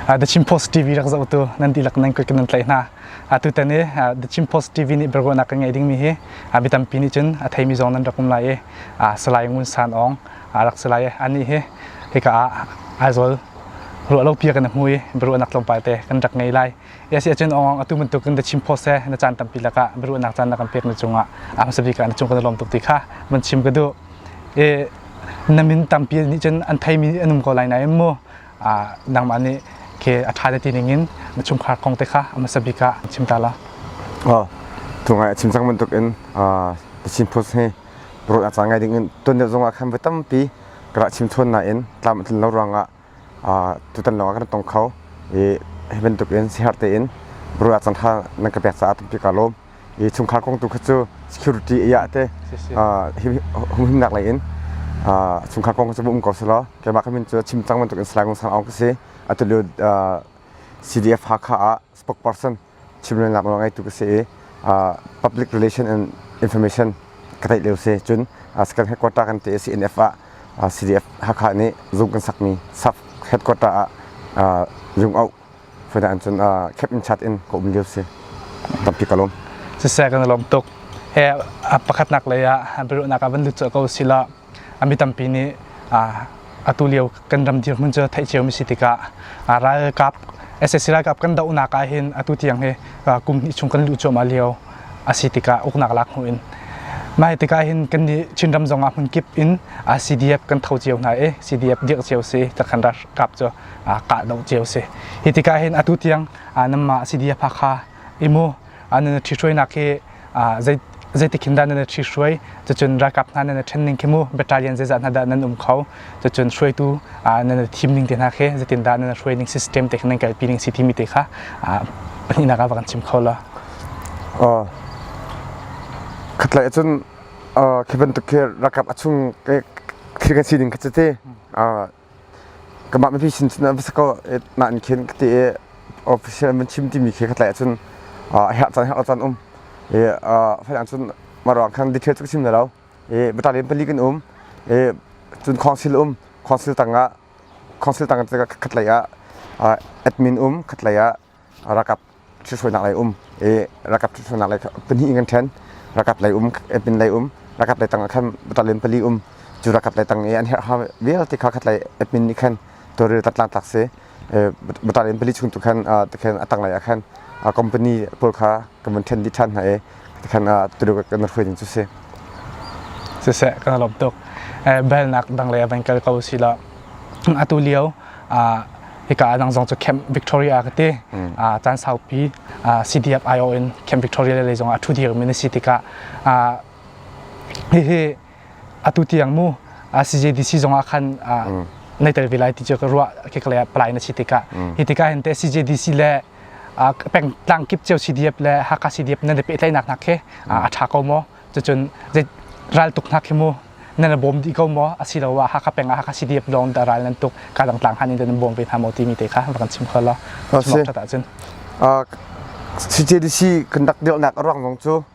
The Chin Post TV rak zoh tu nan ti lak nan koi nan tlai hna atu tan i The Chin Post TV nih bergona kan ngai ding mi hi bitampi nih cun a theimi zong nan rak um lai i salai ngun san ong rak salai ani hi hika ah Aizol ruah lo pia kan hnui bergona tlawmpal te kan rak ngai lai Yes ahcun Aung atu bantuk in na chim phaw se na caan tampi lakah biaruahnak caan na kan pek na cungah a hmasa bik ah na cung ka lawm tuk ti kha van chim ka duh e na min tampi nih cun an theimi an um ko lai na mu nangmah nih ke a ṭha le ti ning in na chungkhar kong te kha a hmasa bik ah chim ta la o tungai a chim cang bantuk in the chin post he pro a cang ngai ding in ton ne zongah khan va tampi ka chim chon na in tlam tin lo ranga tutan lawng ah kan tong kho i hi bantuk in siher tein buru ah cangthla nan ka pek caah tampi ka lawm i chungkhar kong tu kha cu security aya te humhimnak lei in chungkhar kong cu um ko selaw keimah ka min cu chim cang bantuk in salai ngong sang aung ka si atulio CDF Hakha ah spokesperson chimrelnak nawl ngaitu ka si i public relation and information ka theih lio si cun second headquarter kan te CNF ah CDF Hakha nih zung kan sakmi sub headquarter ah Yung Au fana an cun khep in chat in ka um lio si tampi ka lom siseh kan lom tuk he pakhatnak lei ah biruhnak ah van lut ko sila a mi tampi nih atu lio kan ram dirhmun cu theih cio mi si tikah ralkap SSC ralkap kan dohnak ah hin atu tiang hi kum hnih chung kan luh cuahmah lio a si tikah uknak lak hnu in mah hi tikah hin kan nih Chinram zong ah hmun kip in CDF kan tho cio hna i CDF dirh cio si ta kan ralkap cu kah doh cio si hi tikah hin atu tiang nama CDF Hakha imu nan ṭhihruainak hi zeitik hin dah nan ṭhihruai cun ralkap hna nan ṭhen ning khi mu battalion zeizah hna dah nan um kho cun hruaitu nan thim ning te hna khi zeitindah nan hruai ning system te khi nan kalpi ning si timi te kha pahnihnak ah va kan chim kho lo khatlai cun khi bantuk khi ralkap a chung khi kan si ning kha cati Kamah mipi sin cun va sako na an khin ka ti i official man chim timi khi ka tlai ahcun herh caan herh caan um i faidang cun mah ruang khan detail cu ka chim na lo i battalion pali kan um i cun council um council tangah council tang khatlei ah admin um khatlei ah rakap ṭhithruainak lei um i rakap ṭhithruainak lei pahnih in kan ṭhen rakap lei um epin lei um rakap lei tang ah khan batalin pali um cu rakap lei tang i an herh ha vialte kha khat lei epin nih khan tuaril tat lan tlak si batalin pali chung tu khan tikhan a tanglei ah khan company pawl kha kan vun ṭhen dih ṭhan hna i Tikhan ah Turuk kan hruai ding cu si. Siseh kan lom tuk. Eh belnak dang le van kal ko si la. Atu lio ah hika nang zong cu camp Victoria ka ti. Ah caan saupi ah CDF-IO in camp Victoria le zong ah thu dir min si tikah ah hihi atu tiang mu CJDC zong ah khan ah nei tel ve lai ti cu ka ruah ke kale palai na si tikah hi tikah hin te CJDC le pengtlang kip cio CDF le Hakha CDF nan i pehtlainak hna khi a ṭha ko maw cucun zei raltuk hna khi mu nan i bawm dih ko maw asiloah Hakha peng ah Hakha CDF lawng dah ral nan tuk ka dang tlang hlan in nan bawm ve hna maw timi te kha va kan chim kho law cun ṭhat ahcun CJDC conduct dirhnak a ruang zong cu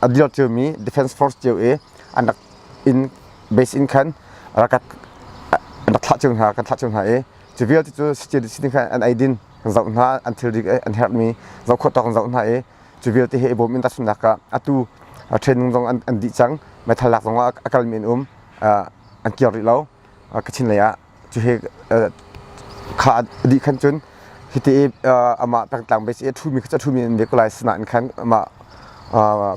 a dir ciomi defense force cio i an rak inn base in khan ralkat an rak thlah cio hna kan thlah cio hna i cu vialte cu sitting sitting khan an eidin kan zoh hna an thilri an herhmi zoh khawh tawk an zoh hna i cu vialte he i bawm in tahchunhnak ah atu training zong an dih cang meithal lak zong ah a kal men um an kir rih lo kachin lei ah cuhe kha dih khan cun hiti i amah pengtlang base i a ṭhumi kha cu a ṭhumi an biak lai sinain khan amah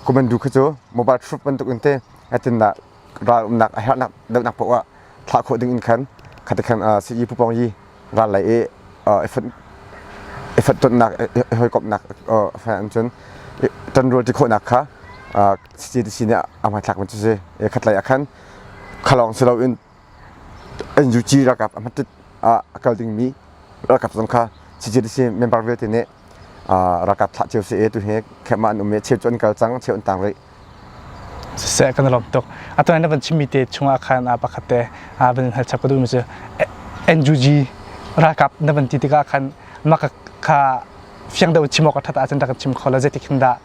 komando kha cu mobile proof bantukin te atindah ral umnak a herhnak dohnak paoh ah thlah khawh ding in khan khati khan sayi pupong yi ral lei i effort tonnak hawikomhnak an cun tanrual ti khawhnak kha CCTC nih a hmanthlak man cu si khatlei ah khan khalawng si loin NUG ralkap a hmatit ah a kal dingmi ralkap zong kha CJDC member vialte nih ralkap thlah cio se tu hi khemah an um i cheu cu an kal cang cheu an tang rih siseh kan lawm tuk atuan van chimi te chungah khan a pakhat te a van hal chap ka du mi cu NUG ralkap na van ti tikah khan maka kha fiang do chimok ka thata chan tak chim khola zetik hin da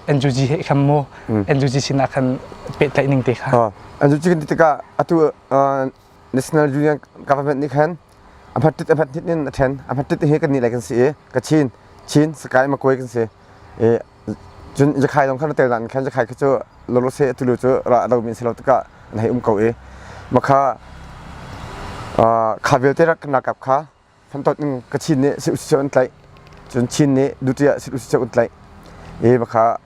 NUG he kham mu NUG sin a khan pe tlai ning te kha an cu cikin tikah atu national union government nih khan a hmat tit a hmat tit in a ṭhen a hmat tit hi kan nih lai kan si i ka chin chin sakai makoi kan si i cun jakhai lawng khan tel nan khan jakhai kha cu lolo se atulu cu ra do min selo tikah an hei um ko i makha kha vialte rak na kap kha Fantot in ka chin nih si usih an tlaih cun Chin nih duty ah si usih un tlaih i bakha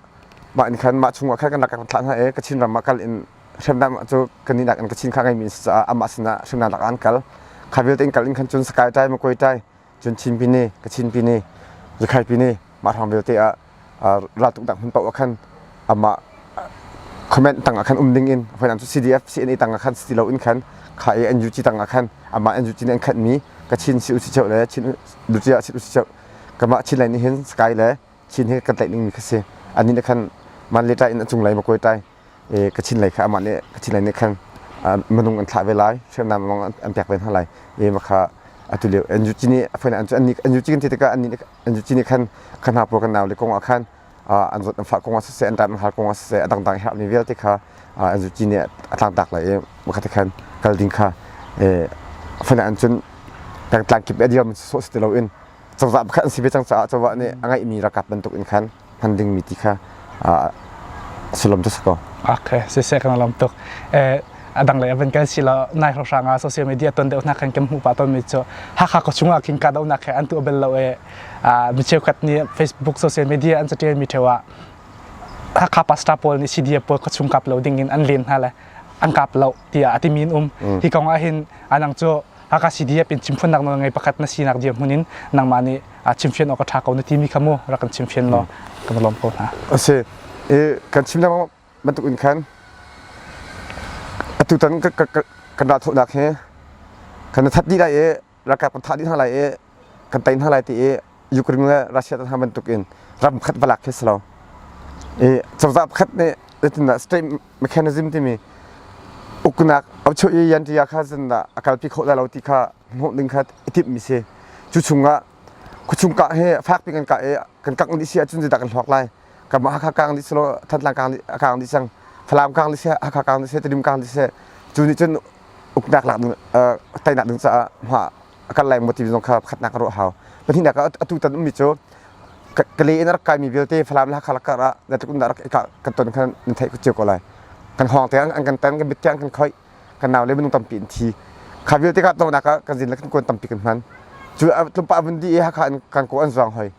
mah in khan mah chungah khan kan rak kan thlah hna i Kachin ram ah kal in hremnam cu kan inak in Kachin kha ngeimi si caah amah sinah hremnam lak an kal kha vialte in kal in khan cun Skai tai Makwai tai cun Chin pini Kachin pini Zukhai pini mah hrang vialte ah raltuknak hmun paoh ah khan amah comment tang ah khan um ding in finance cu CDF CNA tang ah khan si lo in khan kha e NUG tang ah khan amah NUG nih an khat mi ka chin si usi cheu le chin duci ah chin usi cheu kamah chin lai nih hin sky le chin hi kan tlaih ning mi kha si ani ne khan man le tai in achung lai ma koi tai e ka chin lai kha amah ne ka chin lai ne khan manung an thla ve lai hriamnam mong an pek ve na lai e ma kha atu leo NUG nih finance an NUG kan te ka ani an cini khan kan ha pro kan nau le kong ah khan an zot an fa kong ah siseh an ran har kong ah siseh a dangdang her mi vialte kha an zu cini a tlang tak lai i bakhat khan kal ding kha fana an cun tlang kip a dir man so si ti lo in cozah bakhat an si ve cang caah cozah nih a ngeih mi rakap bantuk in khan hman dingmi ti kha sullam cu si ko okay siseh kan lom tuk eh adang lei avan kan sila nai hro hranga social media ton deuh na kan kem mu pa ton mi chu hakha ko chunga king ka dau na khe an tu abel lo e mi cheu khat ni facebook social media an chatel mi thewa hakha pasta pol ni cda pol ko chung kap lo ding in an len na le an kap lo tia atimin um hi kong a hin anang chu Hakha CDF in chimfiannak na ngei pakhat na sinak dirhmun in nangmah nih chimfian awk a ṭha ko na timi kha mu rak kan chimfian law kan va lawm ko hna. A si i kan chim lengmang bantukin khan atutan kan ralthawhnak hi kan i that dih lai i ralkap kan thah dih hna lai i kan tei hna lai ti i Ukraine le Russia hna bantuk in ram khat va lak khi si lo i cozah pakhat nih zetindah state mechanism timi uknak aucho i yantiya kha zindah a kalpi kho lai lo ti kha hmuh ding kha i timhmi si cu chungah khuchung kah hi fak piin kan kah i kan kangh dih si ahcun zeidah kan hluak lai kanmah Hakha kang dih silo Thantlang kang dih a kang dih cang Falam kang dih seh Hakha kang dih seh Tedim kang dih seh cu nih cun uknak lak ding teinak ding caah hma a kan lai maw ti zong kha pakhatnak ka ruah hau pahnihnak ah atu tan ummi cu ka le in rak kaimi vialte Falam le Hakha lakar ah na tukum rak kan ton khan na theih cio ko lai kan hawng te an kan tan kan mit kan khoi kan nau le minung tampi in thi kha vialte ka tawnak ah kan zin le kan kuan tampi kan hman cu tlumpa abun di i hakha kan ko an zuang hoi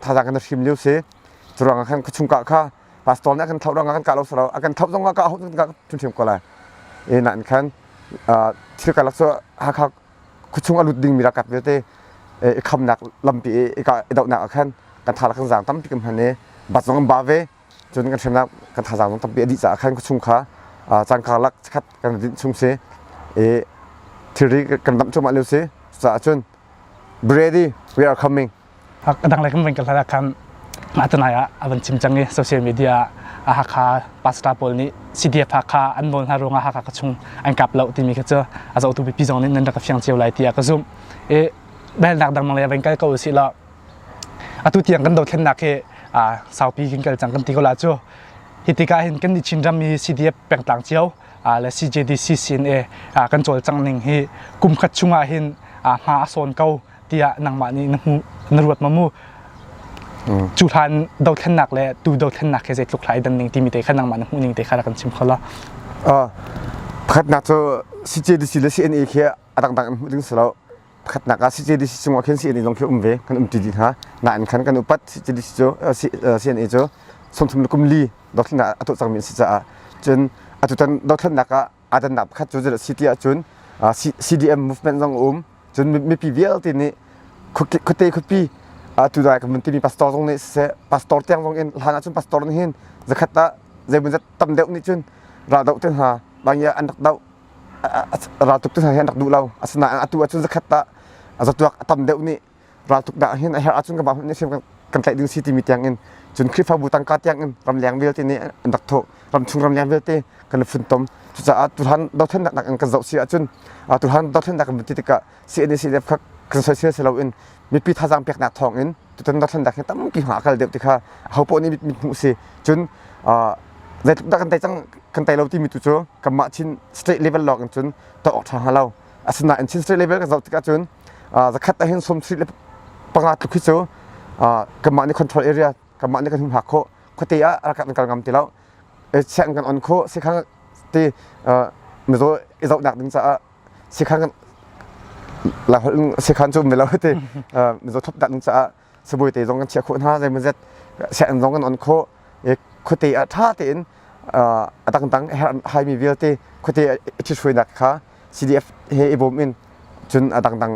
thazaang kan hrim lio si curuang ah khan ka chung kah kha pastor nih akan thauh rang akan kah lo saro akan thauh zong ka hau ka thim ko lai e na khan thil kalak so hakha kuchung alut ding mi rakap viate e kham nak lampi e ka dau nak khan kan tha kan zang tam pi kam hane bat zong ba ve chun kan hremnak kan tha zang tam pi adi cha khan kuchung kha changka lak khat kan din chung se e thiri kan dam chuma leu se sa chun ready we are coming dang le kan van ka hlat ah khan mah tunai ah a van chim cang i social media ah a Hakha pastor pawl nih CDF Hakha an nawl hna ruangah Hakha ka chung an kap lo timi kha cu a zohtu pipi zong nih nan rak ka fiang cio lai tiah ka zumh i belnak dangmang le van kal ko usih law atu tiang kan dothlennak hi saupi kan kal cang kan ti ko la cu hi tikah hin kan ni Chin ram hi CDF pengtlang cio le CJDC sin e kan cawl cang ning hi kum khat chungah hin hma a sawn ko tiah nangmah nih na hmuh na ruat ma mu cu hlan dothlennak le tu dothlennak he zeitluk hlai dan ning timi te kha nangmah na hmuh ning te kha rak kan chim kho la pakhatnak cu CJDC le CNA khi a dangdang in hmuh ding si lo pakhatnak ah CJDC cungah khin CNA zong khi um ve kan um ti dih hna nain khan kan upat CJDC cu CNA cu sawmthum le kum li dothlennak a tuah cangmi si caah cun atutan dothlennak ah aa dannak pakhat cu zeidah si ti ahcun CDM movement zong a um cun mipi vialte nih khuate khutpi tudai kan vun timi pastor zong nih siseh pastor tiang zong in hlan ahcun pastor nih hin zakhat ah zeimawzat tam deuh nih cun ra doh te hna bang i an rak doh ra tuk te hna hi an rak duh lo asinain atu ahcun zakhat ah zatuak tam deuh nih raltuk dah hin a herh ahcun ka ba hmun sim kan tlaih ding si timi tiang in cun Khrihfabu tangka tiang in ramleng vialte nih an rak thawh ramchung ramleng vialte kan i funtom cucaah tuhan dothlennak nak in kan zoh si ahcun tuhan dothlennak kan ti tikah CNCDF kha kan soisel si loin mipi thazang peknak thawng in tutan dothlennak hi tampi hma kal deuh tikha hopoh nih mit hmuh si cun zeitluk dah kan tei cang kan tei lo timi tu cu kanmah chin state level lawng in cun to awk tha hnga lo Asinain Chin State level ka zoh tikah cun zakhat ahhin sawm sri le panga tluk hi cu kanmah nih control area kanmah nih kan hun hak khawh khuate ah rak kan kal ngam ti lo siang kan on khawh sikhang ti mizaw i zohnak ding caah sikhang sikhang cu milo ti mizaw thup dah ding caah sabuai te zong kan chiah khawh hna zeimawzat sian zong kan on khawh i khuate a ṭha tein a dangdang haimi vialte khuate a ṭhithrainak kha CDF he i bawm in cun a dangdang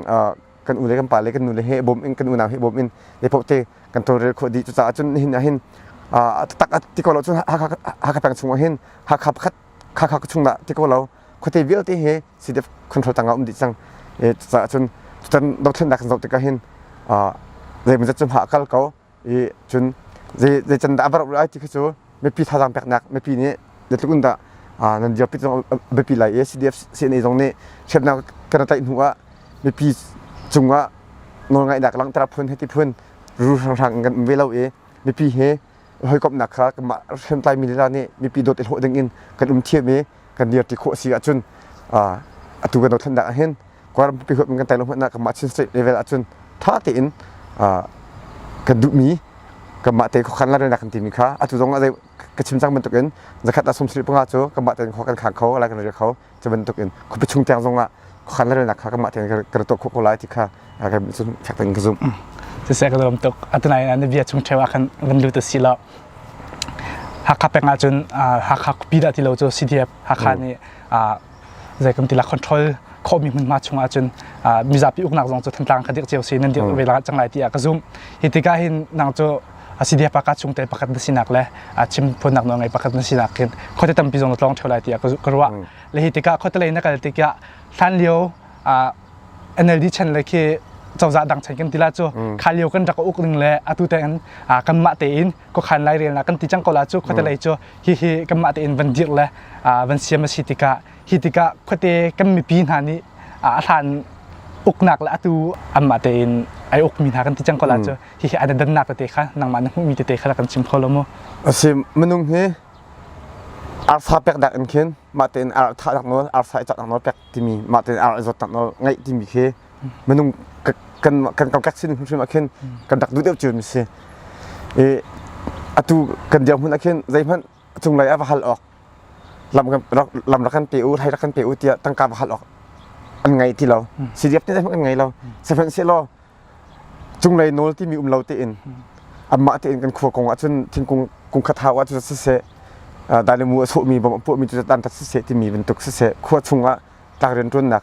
kan u le kan pa le kan nu le he i bawm in kan unau he i bawm in le poh te kan tawlrel khawh dih cucaah cun nihin ah hin a taktak ti ko lo cun Hakha peng chung ah hin Hakha pakhat kha kha chung dah ti ko lo khuate vialte he CDF control tangah um dih cang cucaah cun tutan dothlennak kan zoh tikah hin zeimawzat cu hma a kal ko i cun zei can dah a barh lai ti khi cu mipi thazaang peknak mipi nih zeitluk in dah nan dirpi zong a biapi lai i CDF CNA zong nih hriamnam kan tlaih hnu ah mipi cungah nawlngaihnak langhter phun heti phun ru hranghrang kan um ve lo i mipi he hawikomhnak kha kanmah hriamtlai mi lila nih mipi dawt i hlawh ding in kan um thiam i kan dir ti khawh a si ahcun atu kan dothlennak ahhin kawlram pumpi huap in kan tai lo hmanhah kanmah Chin State level ahcun ṭha tein kan duhmi kanmah te khuakhan lalrelnak kan timi kha atu zong ah zei ka chim cang bantukin zakhat ah sawmsarih panga cu kanmah tein khua kan khang kho ala kan rial kho cu bantukin khuapi chung tiang zong ah khuakhan lalrelnak kha kanmah tein kan rak tuah khawh ko lai ti kha a kan cun fek kan ka zumh siseh ka lawm tuk atinain na bia chung cheu ah khan van lut a si lo Hakha peng ah cun Hakha Pida ti lo cu CDF Hakha nih zei kan ti la control khawhmi hmunhma chung ah cun mizapi uknak zong cu thantlang kha dik cio si nan dir ve la cang lai tiah ka zumh hi tikah hin nang cu a CDF pakhat chung te pakhat na sinak le a chim phunnak no ngai pakhat na sinak hin khote tampi zong na tlong theo lai tiah ka ruah le hi tikah khote lei na kal tikah hlan lio NLD chan le khi cozah dang chan kan tila cu mm. kha lio kan rak uk ning le atu te in kan mah te in ko khan lai rel na kan ti chang ko la cu khote mm. lei cu hi hi kan mah te in van dir le van siam a si tika hi tika khote kan mi pi hna ni a hlan uknak le atu an mah te in ai uk mi hna kan ti chang ko la cu hi hi adan nak te kha nang ma na mi te te kha kan sim kho lo mu asi manung hi arsa pek dak in khin ma te in arsa dak no arsa i chak no pek timi mah tein ar zawt nak ngeih timi khi minung kan kan kokek sin hrimhrim ah khin kan dak duh deuh cu mi si i atu kan dirhmun hmun ah khin zeihmanh cunglei ah va hal awk lam lam rak kan pe u thai rak kan pe u tiah tangka va hal awk an ngei ti lo si diap tin zeihmanh an ngei lo sehmanh se law cunglei nawl timi um lo tein anmah tein kan khua kong ahcun thingkung kungkhat hau ahcun siseh dailemu a sawhmi bom a puahmi cu dan tat siseh timi bantuk siseh khua chungah tlak rianṭuannak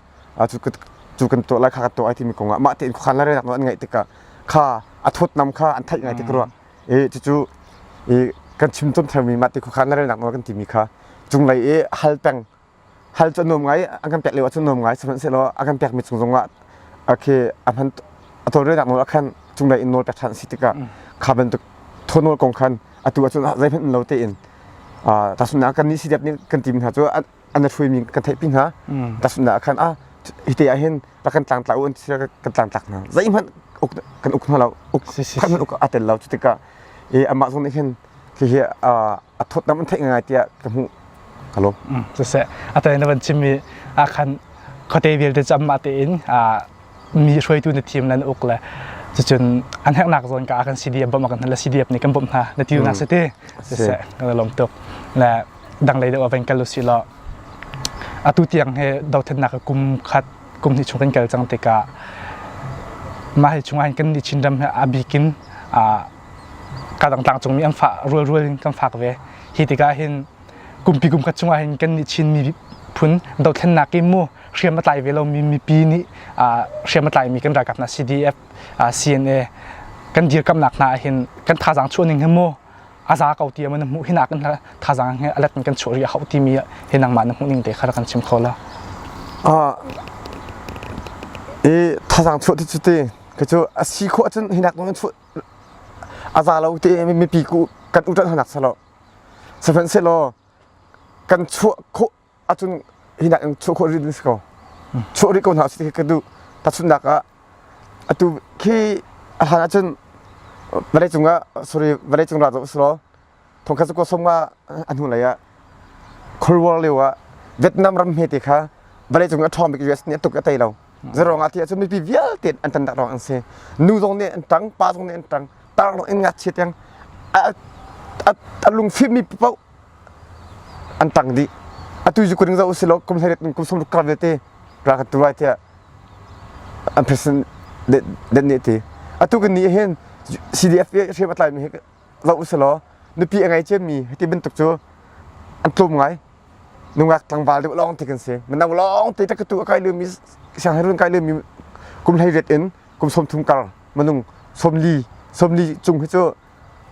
cu kan tuah lai kha kan tuah ai timi kongah mah tein khuakhan larennak nawl an ngaih tikah kha a thawtnam kha an theih ngai tik rua i cucu i kan chim cawm thermi mah te khuakhan larennak nawl kan timi kha cunglei i hal peng hal cu nuam ngai an kan pek lio ah cun nuam ngai sihmanhsehlaw a kan pekmi cung zongah khi a hman a tawlrelnak nawl ah khan cunglei in nawl pek ṭhan a si tikah kha bantuk thaw nawl kong khan atu ah cun zeihmanh um lo tein tahchunhnak kan nih sidep nih kan tim hna cu an a hruimi kan theihpi hna tahchunhnak ah khan a hite ah hin rak kan tlangtla u an ti kan tlangtlak hna zeihmanh kan uk hna lo uk uk a tel lo cu tikah i amah zong nih hin hihi a thawtnam an theih ngai tiah ka hmuh ka lawm siseh atai na van chim i akhan khuate vialte cu amah tein mi hruaitu na team nan uk le cucun an heknak zawn ka akan CDF bawmh akan hnalle CDF nih kan bawmh hna na ti nak siti siseh na lawm tuk le dang lei deuh van kal usi law atu tiang he dothennak kum khat kum hnih chung kan kal cang tikah mah hi chung kan ni chin ram he abikin kadang tlangcungmi an fah rualrual in kan fak ve hi tikah hin kumpi kum khat chungah hin kan nih chinmi phun dothlennak i mu hriam a tlai ve lomi mipi nih hriam a tlaimi kan ralkap hna CDF CNA kan dirkamnak hna ahhin kan thazang chuahning hi mu a za ko ti na hmuh hinak in thazang he alat in kan chuah ri a hauh timi hi nangmah na hmuhning te kha kan chim kho la i thazang chuah ti cu te kacu a si khawh cun hinak dong in a za lo te mipi kan uṭalh hnanak selaw sihmanhsehlaw kan chuah khawh ahcun hi nak in chuah khawh rih ding si ko chuah rih ko hna usih ka duh tahchunhnak ah atu khi a hlan ahcun vawlei cungah sorry vawlei cung ra zoh usilaw thongkhat zakua som nga a hnu lei ah Cold War lio ah Vietnam ram hmete kha vale cung a ṭhawng bik US nih a tuk a tei lo zarong ah thi ah cun mipi vialte an tan dah rong an si nu zong nih an ṭang pa zong nih an ṭang tar lawng in ngakchia tiang a lungfim mi paoh an ṭang dih atu zu kuning zo usilaw kum hleiriat in kum sung ruk kar vialte ra ka turai tiah an president that ne ti atu kan ni hin CDF hriam a tlai mi zoh usilaw nupi a ngei cemmi hiti bantuk cu an tlum ngai nungak tlangval deuh lawng ti kan si manang lawng te ta katu a kai lumi sianginn run kai lumi kum hlei ret in kum som thum kar manung somli somli cung hi cu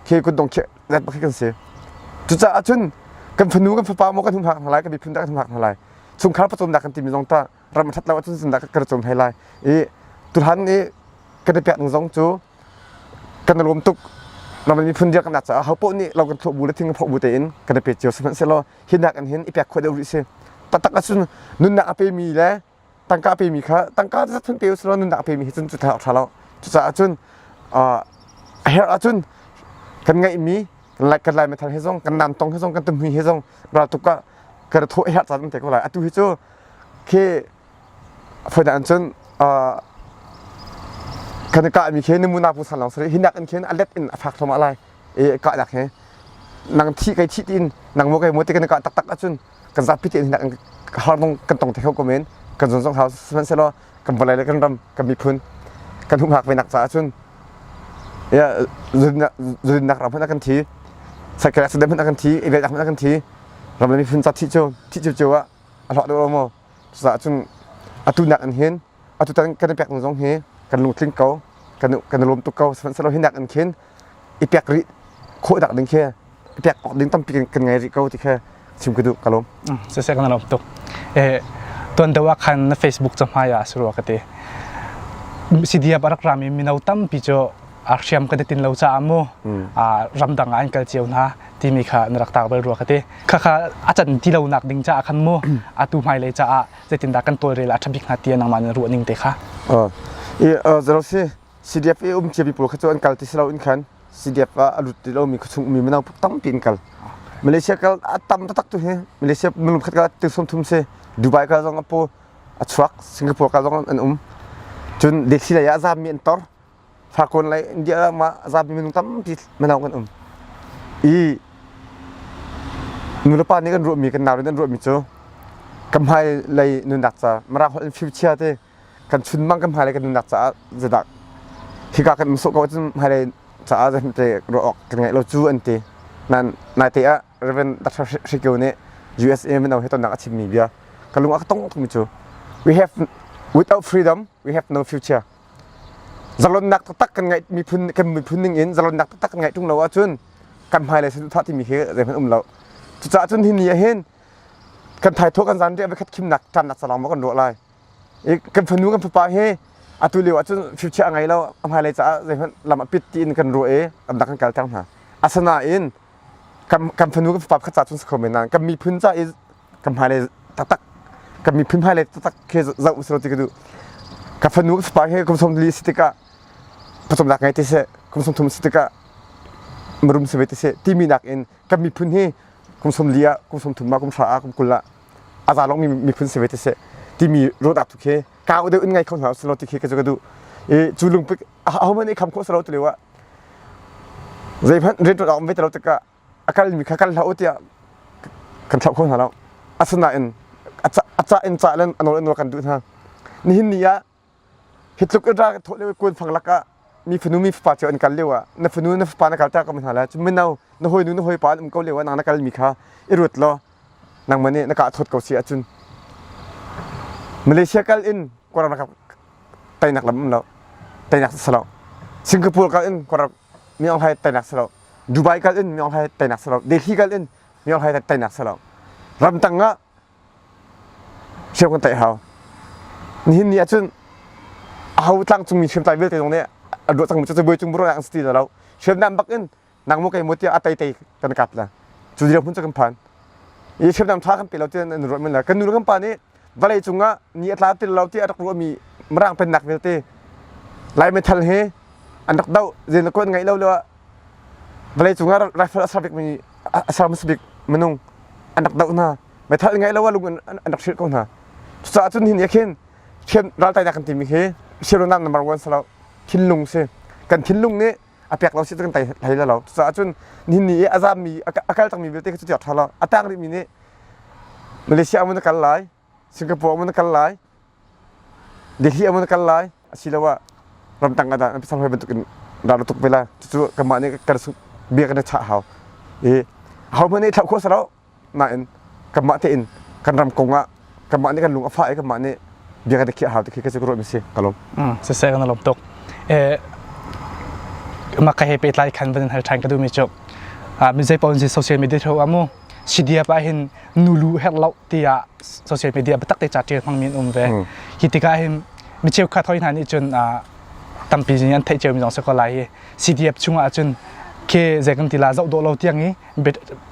khi kun dong khi let khi kan si cucaah cun kan fanu kan fapa mo kan hum hak hna lai kan miphun dah kan hum hak hna lai sungkhar pacawm dak kan timi zong ta ram a ṭhat lo ahcun zindah kan cawm hlei lai i tuhan i kan i pekning zong cu kan i lawm tuk ram miphun dirh kan caah ho paoh nih lo kan thawh bu le thing kan phawk bu tein kan i pe cio sihmanhsehlaw hi nak in hin i pek khawh deuh rih si taktak ahcun nunnak a pemi le tangka a pemi kha tangka zat hun pe u selaw nunnak a pemi hi cun cu thar ṭha lo cucaah cun a herh ahcun kan ngaihmi kan lai methal he zong kan nam tong he zong kan tumhui he zong raltuk ah kan thawh herh caan an te ko lai atu hi cu khi faina an cun kan i kah mi khi na munapu san long sari hinak in khin a let in a fak thoma lai e kah dak he nang thi kai thi tin nang mo kai mo te kan kah tak tak acun kan za phi tin hinak in har nong kan tong te ho komen kan zon zong hau sman selo kan bolai le kan ram kan miphun kan hung hak venak ca acun ya zunak ram hna kan thi sakal accident hna kan thi event hna kan thi ram le miphun ca thi chu thi chu chu a hlah deuh lo maw cucaah cun atu nak in hin atu tan kan i pek ning zong hi kan lungtling ko kan kan i lawm tuk ko sihmanhsehlaw hi nak in khin i pek rih khawh nak ding khi i pek awk ding tampi kan ngei rih ko ti kha chim ka duh ka lawm siseh kan lawm tuk eh tuan dawa khan na facebook ca hmai ah suru ka ti cdf a rak rami mino tampi cu ah hriam ka tin lo caah mu ramdang ah an kal cio hna timi kha na rak tak bal rua ka ti khakha a can ti lo nak ding caah khan mu atu hmai lei caah zeitindah kan tawlrel a thabik hna tiah nangmah na ruah ning te kha i zerosi CDF e um chiapi pul kha chu an kal ti selo in khan CDF a lut ti lo mi kha chung mi manaw tampi in kal Malaysia kal a tam tak tu hi Malaysia minum khat kala tu som thum se Dubai kala zong apu a chuak Singapore kala zong an um cun desi laya zam mi an tor Fakon lei India mah zapi minung tampi mano kan um i nulepa nih kan ruahmi kan nau nih an ruahmi cu kan hmai lei nunnak ca Mirang holh in fimchia te kan chunmang kan hmai lei kan nunnak caah zadak hika kan um sawh ko cun hmai lei caah zan te ruah awk kan ngai lo cu an ti nan nai te ah Reverend Dr. Hrikyo nih USA mino he tonnak a chimmi bia ka lung a ka tong tukmi cu we have without freedom we have no future Zalonnak taktak kan ngaih miphun kan miphun ning in zalonnak taktak kan ngaih ṭung lo ahcun kan hmailei thah timi khi zeihmanh um lo. Cucaah cun hi ni ahhin kan thaithawh kan zan ri voikhat khimnak ṭamnak zalong ma kan ruah lai. I kan fanu kan fapa hi atu lio ahcun fifchiah a ngei lo a hmailei caah zeihmanh lam a pit tiin kan ruah i amnak kan kalter hna. Asinain kan kan fanu kan fapa khat ca cun si kho men nain kan miphun ca i ka hmailei taktak ka miphun hmailei taktak khi zoh usih ti ka duh ka fanu spa he kum sawm li si tikah pawcawmnak ngei ti seh kum sawm thum si tikah marum si ve ti seh timi nakin kan miphun hi kum sawm li ah kum sawm thum ah kum hra ah kum kul ah a za lawngmi miphun si ve ti seh timi roda tu khi ka u de un ngai kho hna usih ti khi ka zu ka duh i cu lungpik a homan i kham kho salo tu lewa zeihmanh ret a om ve talo tikah a kalmi kha kan hlah u tiah kan chauh kho hna lo asinain a cah in cah len a nawl in nawl kan duh hna nihin ni ah hi tluk in ra thawh lio kun fang lak ah mi fanu mi fapa cio an kal lio ah na fanu na fapa na kalta ka hna la cu mino na hoi nu na hoi pa an um ko lio ah nang na kal mi kha i ruat law nang mane na ka thawt ko si ahcun Malaysia kal in korang na tainak lam um lo tainak sa lo Singapore kal in korang mi ong hai tainak sa lo Dubai kal in myohlai tainak selo Delhi kal in myohlai tainak selo ramtang ah siau kan tai hau nihin ni ahcun aho tlangcungmi hriam tai vialte zong nih a duah cangmi cu buai cung bro yang sti lo hriam nam bak in nangmu kai mo tiah atai tai kan kap la cu dirhmun cu kan phan i hriam nam tha kan pe lo tian an ruat man la kan nu kan pa nih vawlei cungah ni a tla ti lo ti a rak ruahmi Mirang pennak vialte Lai metal he an rak doh zein kuan ngaih lo lo ah vawlei cungah rifle a ser bikmi a ser hmasa bik minung an rak doh hna metal ngaih lo ah lung an rak hrilh ko hna cucaah cun hin khin thiam raltai nak kan timi hi siam lo nam number one sa lo thinlung si kan thinlung nih a pek lo si kan tai hlei lo cucaah cun nihin ni i a zammi a kal takmi vialte cu tiak tha lo a tak rihmi nih Malaysia amun na kal lai, Singapore amun na kal lai, Delhi amun na kal lai asiloah ramdang ah dah na pasang hoi bantukin ral na tuk ve lai. Cucu kanmah nih kan bia kan i chah hau. I ahohmanh nih i thlauh khawh si lo. Nain kanmah tein kan ram kong ah kanmah nih kan lung a fah i kanmah nih bia kan i khiah hau ti khi ka cu ka ruah mi si. Ka lawm. Mm, siseh kan lawm tuk. Eh, mah ka he pehtlai khan van in hal ṭhan ka duhmi cu. Ah, mi zei paoh in si social media through ah mu CDF ah hin nulu herh lo tiah social media biatak te ca ṭial hmangmi an um ve hi tikah hin mi cheukhat hoi hna nih cun tampi in an theih ciomi zong si ko lai hi CDF chungah ahcun ke zei kan ti la zoh dawh lo tiang i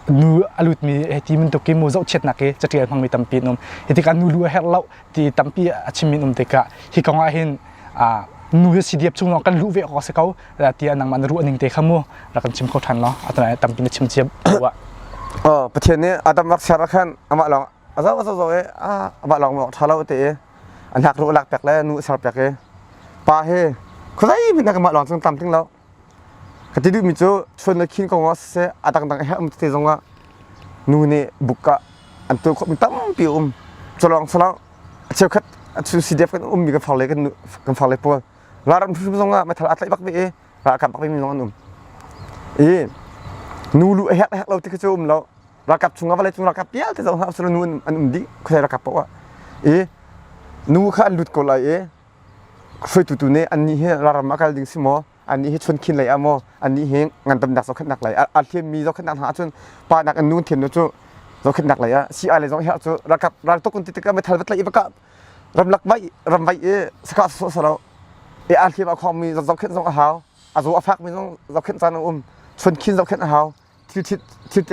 nu a lutmi hi ti min tuk i mu zohchiatnak hi catial hmangmi tampi an um hi tikah nu lu a herh lo ti tampi a chimmi an um tikah hi kongah hin nu hi CDF chung lawng kan luh ve awk a si ko tiah nangmah na ruah ning te kha mu rak kan chim kho ṭhan law a tana tampi na chim cia ah oh pathian nih adam rak ser khan amah lawng a zo zo zo e amah lawng mawk ṭha lo te e a hnak ru lak pek le nu ser pek e pa he khuzai min na amah lawng chung tam ting lo ka ti duh mi cu chun na khin ko nga se a dang dang he um te zong a nu nih buka an tu khop mi tampi um chalong salang a cheu khat a chu CDF kan um mi kan far le kan kan far le pual ralram hrimhrim zong ah meithal aa tlaih bak ve i ralkap bak vemi zong an um i nu lu a hek a hek lo ti khi cu um lo ralkap chung ah vawlei cung ralkap vialte zong hna usih nu an um dih khuasai ralkap paoh ah i nu kha an lut ko lai i hruaitu tu nih annih hi laram a kal ding si maw annih hi chuan khin lei ah maw annih hi ngandamnak zohkhenhnak lei a thiammi zohkhenhnak hna ahcun pa nak in nu thian cu zohkhenhnak lei ah si ai le zong herh cu ralkap raltok kun titik ah meithal va tlaih i va kah ramlak vaih ram vaih i sakah sawh sa lo e a hlim a khong mi zohkhenh zong a hau a zo a fak mi zong zohkhenh caan a um chun khin zohkhenh a hau thil thit thil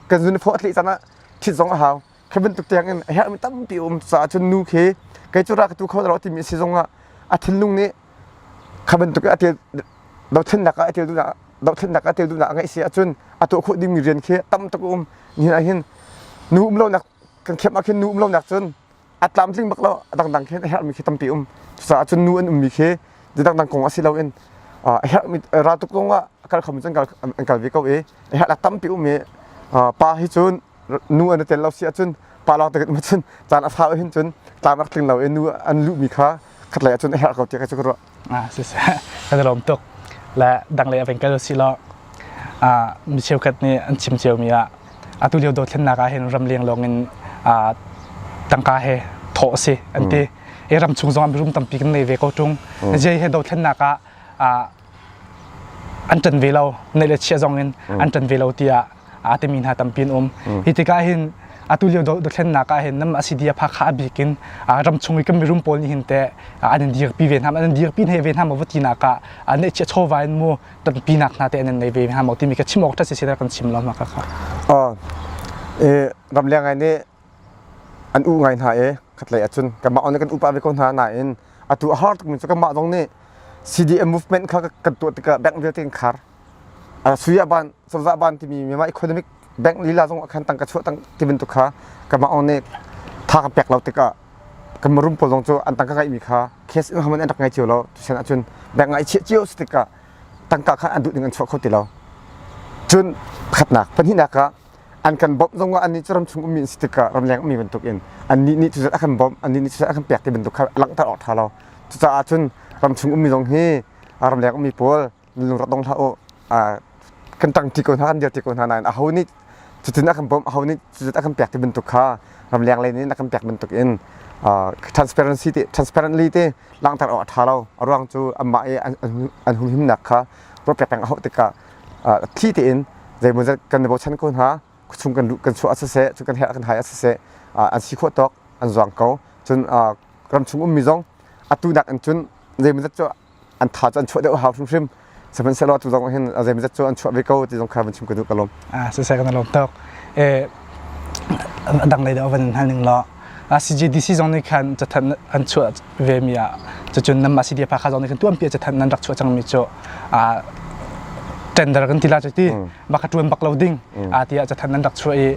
kan zun pho thli caan ah thit zong a hau khi bantuk tiang in herh mi tampi um caah cun nu khi kei cu ra ka tu kho lo ti mi si zong ah a thinlung nih kha bantuk a tel dothlen nak a tel du na dothlen nak a tel du na ngai si acun a to kho ding mi rian khi tam tak um ni ah hin nu um lo nak kan khem a khin nu um lo nak cun a tlamtling bak lo a dangdang khin a herhmi khi tampi um cucaah cun nu an ummi khi dangdang kong ah si loin a herhmi raltuk kong ah kal kham cun an kal ve ko i a herhlak tampi um i pa hi cun nu an i tel lo si ahcun pa lawng te cun caan a fa hin cun tlam rak tling lo i nu an luhmi kha khatlei ah cun a herh ko tiah ka cu ka ruah ah siseh kan i lawm tuk le danglei a veng kal usih law ah mi cheukhat nih an chim ciomi ah atu lio dothlennak ah hin ram leng lawng in ah tangka he thawh a si an ti i ram chung zong ah mirum tampi kan ngei ve ko ṭung jei he dothlennak ah ah an ṭan ve lo neih le chiah zong in an ṭan ve lo tiah aa timi hna tampi an um hi tikah hin atu lio dothlennak ah hin nam asidia pha kha abik in ram chung i kan mirum pawl nih hin teh an in dirpi ve hna an in dirpi ne ve hna maw vatinak ah an neih chia chawva in mu tampi nak hna te an in nei ve hna maw timi ka chim awk ṭha si kan chim lo ma kha ram leng ai nih an u ngai hna i khatlei ah cun kanmah on le kan upa ve ko hna nain atu a har tukmi cu kanmah zong nih CDM movement kha kan tuah tikah bank vialte kan khar a Suria ban cozah ban timi myanmar economic bank lila zong ah khan tangka chuah tang ti bantuk kha kanmah on nih tha ka pek lo tikah kan marum pawl zong cu an tangka ngaihmi kha case in haman an rak ngai cio lo tusen ahcun bank ngai chiah cio si tikah tangka kha an duh ding an chuah kho ti lo cun pakhatnak pahnihnak ah an kan bawmh zong ah annih cu ram chung ummi an si tikah ramleng ummi bantukin annih nih cucu a kan bawmh annih nih cucu a kan pek ti bantuk kha langhter awk ṭha lo cucaah cun ram chung ummi zong hi ramleng ummi pawl lungrak dong hlah u kan ṭang ṭi ko hna kan dir ti ko hna nain aho nih cutin a kan bawmh aho nih cucu a kan pek ti bantuk kha ramleng lei nih a kan pek bantukin transparency ti transparently ti langhter awk a ṭha lo a ruang cu anmah i an humhimnak kha ruah pek peng a hauh tikah thli tein zeimawzat kan i bochan ko hna chung kan kan chuah ah siseh cu kan herh kan hai ah siseh an si khawh tawk an zuang ko cun ram chung ummi zong atu nak in cun zeimawzat cu an tha cu an chuah deuh hau hrimhrim sihmanhsehlaw tu zong hin zeimawzat cu an chuah ve ko ti zong kha van chim ka duh ka lawm a sisai kan lawm tok e dang lei da van hal ning law CGDC zong nih khan cathanh an chuah vemi ah cacun nam CDF pha zong nih khan tuanpi ah cathanh an rak chuah cangmi cu tender kan ti la cu ti baka tuan bak lo ding a ti ah cathanh an rak chuah i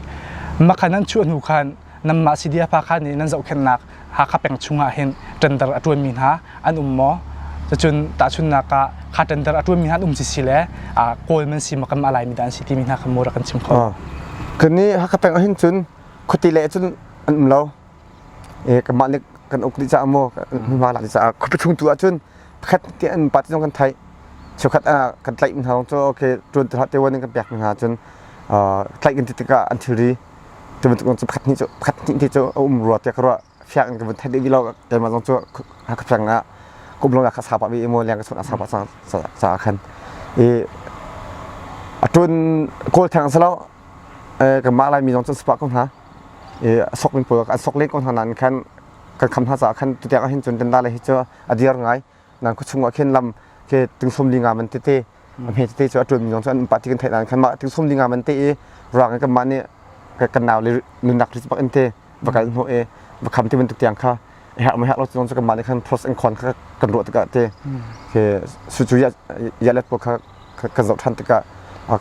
makhan an chuah hnu khan namma CDF pha khan nih nan zohkhennak Hakha peng chungah hin tender a tuanmi hna an um maw cacun tahchunnak ah kha tender a tuanmi hna an um si si le kawl man si makam alaimi dan si timi hna kha mura kan chim kho kani hakha peng ahin cun khuati leh cun an um lo e kanmah nih kan uk dih caah maw hmunhma lak dih caah khuapi chung tu ahcun pakhat tiah an pa tiang kan theih cheukhat ah kan tlaih mi hna kong cu okay tuan tilah tewan in kan pek mi hna cun tlaih kan ti tikah an thilri cu bantuk kong cu pakhat hnih cu pakhat hnih te cu a um rua tiah ka ruah fiang ka vun thanh dih vilo keimah zong cu ka fiang na kum long ka sa pa bi mo liang ka sun a sa pa sa sa khan i atun kol thang salo ka ma lai mi zong cun spa ko hna i sok min pul kan sok le ko hna nan khan kan kham hna sa khan tutiang hin chun den da le hi chu adir ngai nan khua chung ah khin lam ke tingsum li nga man tete a hme tete chu a tuan mi zong chu an pati kan thai nan khan ma tingsum li nga man te i rang kan ma ni kan naw le nunak ri bak ente bakal hno e bakham ti man tu tiang kha hak mai hak lo zong chu kan ma ni khan process and con kha kan ro taka te ke su chu ya ya let ko kha kan zo than taka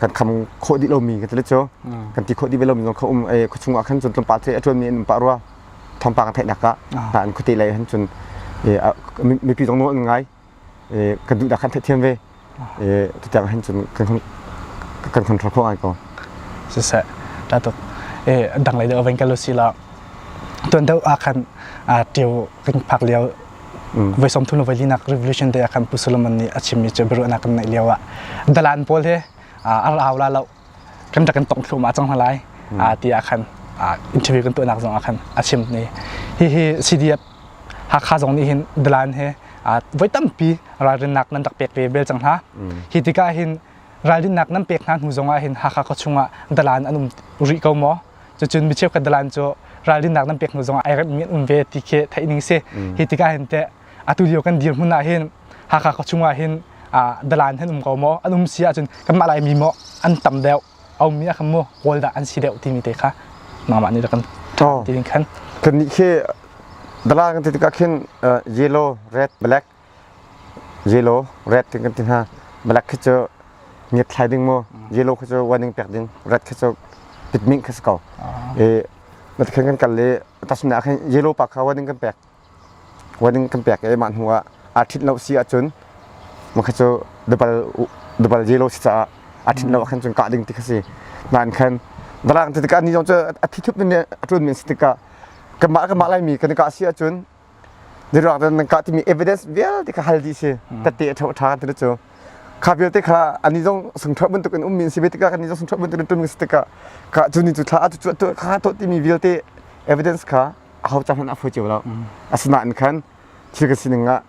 kan kham kho di lo mi kan tele cho kan ti kho di be lo mi zong kha um e khachung a khan chun tlum pa the atun mi an pa rwa thawngpang a theihnak ah ah an khuate lei han cun mipi zong nawl an ngai kan duh dah kan theih thiam ve tutiang han cun kan control khawh ngai ko siseh tatuk dang lei deuh vein kalo si la tuan deuh a khan tio kan phak lio voi som thun voi linak revolution te a kan pu solomon nih a chimmi chu biru na kan neih lio ah dalan pawl he ar aula lo kan rak kan tongh thluahmah cang hna lai ti ah khan interview kan tuahnak zong ah khan a chim ni hihi CDF Hakha zong nih hin Dalan he voi tampi ralrinnak nan rak pek ve bel cang hna hi tikah hin ralrinnak nan pek hna hnu zong ah hin Hakha khaw chung ah Dalan an um rih ko maw cucun mi cheukhat Dalan cu ralrinnak nan pek hnu zong ah ai remmi an um ve ti khi theih ning si hi tikah hin teh atu lio kan dirhmun ah hin Hakha khua chung ah hin dalan hin um ko maw an um si ahcun kanmah lai mi maw an tam deuh a ummi ah khan maw rawl dah an si deuh timi te kha mangmah nih kan tilin khan kan nih khi dalan kan ti tikah khin yellow red black yellow red kan kan ti hna black khi cu ngiat thlai ding mu yellow khi cu waning pek ding red khi cu pitming khi si ko e mat khen kan kal le tasum na khen yellow pa kha waning kan pek warning kan pek i mah hnu ah aa ṭhit lo si ahcun makha cu dabal dabal yellow si caah a ṭhit lo ah khan cun kah ding ti kha si nain khan darang tikah ni zong cu a thi thup ning a ṭun men si tikah kanmah kanmah laimi kan i kah si ahcun dirang dan nan kah timi evidence vialte kha hal dih si tate a ṭha ṭha kan ti cu kha vialte kha ani zong sungṭha bantuk in um min si ve tikah ani zong sungṭha bantuk in ṭun si tikah ka cu ni cu thla a cu cu kha to timi vialte evidence kha ho cang hmanh a hoi cio lo asinain khan thil ka sining ah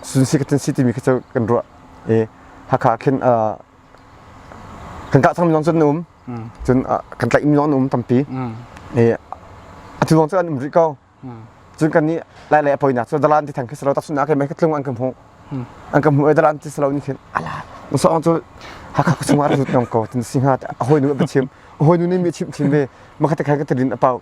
sun si ka tun si timi kha cu kan ruah i hakha khin kan kah cang mi zong cun na um cun kan tlaih mi zong na um tampi i atu zong cu an um rih ko cun kan nih lai lei a poinak cu dalan ti thang khi salo taksun akai mai ka tlung an kan hmuh an kan hmuh i dalan ti salo ni thin ala musa ong cu hakha chungah rut ngam ko tin singa a hoi nu a chim a hoi nu ne mi chim thin ve makha te khan ka tilin a pau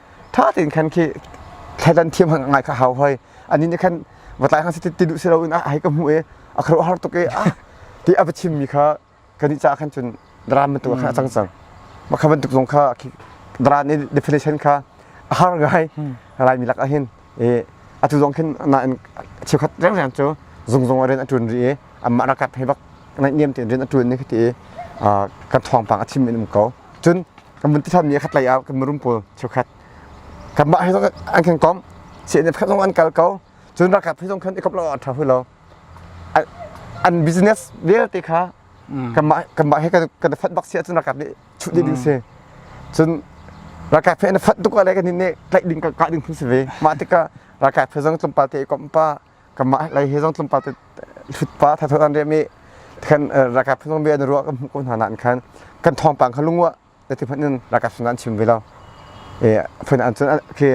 ṭha tein khan khi thledan thiam han ngai kha hau hoi ani nih khan va tlai hang si ti duh si loin a hei ka hmuh i a kharuah har tuk i a ti a va chim mi kha kan i cah khan cun dram bantuk khan a cang cang mah kha bantuk zong kha khi dran i definition kha a har ngai laimi lak ahhin i atu zong khin nain cheukhat rengren cu zungzung a rian a ṭuan rih i anmah ralkap hei bak naihniam tein rian a ṭuan ni hiti kan thawngpang a chim in um ko cun kan vun titham ni khat lei ah kan mirum pawl cheukhat kanmah he zong an khen kom CNF khat zong an kal ko cun ralkap he zong khan ikop lo a ṭha hui lo an business vialte kha kanmah kanmah he kan kan fat bak si ahcun ralkap nih chuh ding hmm. si cun ralkai phe na fat tuk ah le kan nih tlaih ding ka kah ding phun si ve mah tikah ralkai phe zong tlumpa te kom pa kamah lai he zong tlumpa te hlut pa thatho an re mi khan ralkai phe zong be an ruwa kan hmu ko hna nan khan kan thong pang kha lungwa da ti phan in ralkai phe nan chim ve lo e phun an chun ke